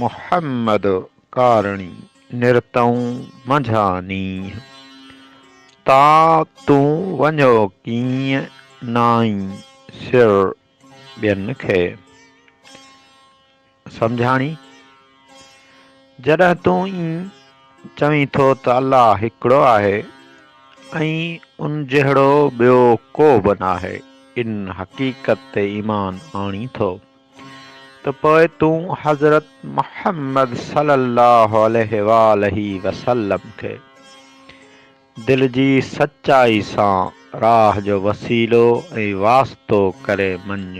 محمد ڪارڻي نرتئون منجهان نينهن، تان تون وڃو ڪيئن نائين سر ٻين کي. سمجهاڻي، جڏهن تون ائين چوين ٿو ته الله هڪڙو آهي ۽ ان جهڙو ٻيو ڪوبه ناهي، ان حقيقت تي ايمان آڻين ٿو. ته پوء تون حضرت محمد صلّي اللّٰه عليه واٰله وسلّم کي دل جي سچائي سان راھ جو وسيلو ۽ واسطو ڪري مڃ.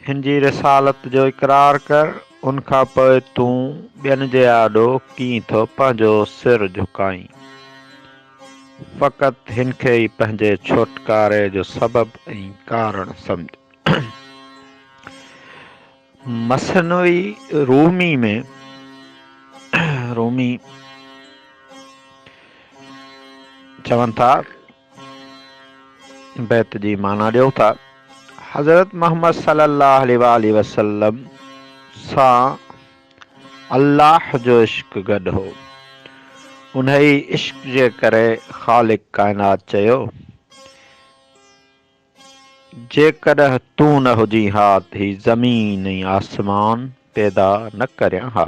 ھن جي رسالت جو اقرار ڪر، ان کان پوء تون ٻين جي آڏو ڪيئن ٿو پنھنجو سر جھڪائين؟ فقط هن کي ئي پنهنجي ڇوٽڪاري جو سبب ۽ ڪارڻ سمجهه. مثنوي رومي ۾ رومي چون ٿا، بيت جي معنيٰ ڏيو ٿا، حضرت محمد صلّي اللّٰه عليه واٰله وسلّم سان الله جو عشق گڏ هو. انهيء عشق جي ڪري خالق ڪائنات چيو، جيڪڏهن تون نه هجين ها ته هي زمين ۽ آسمان پيدا نه ڪريان ها.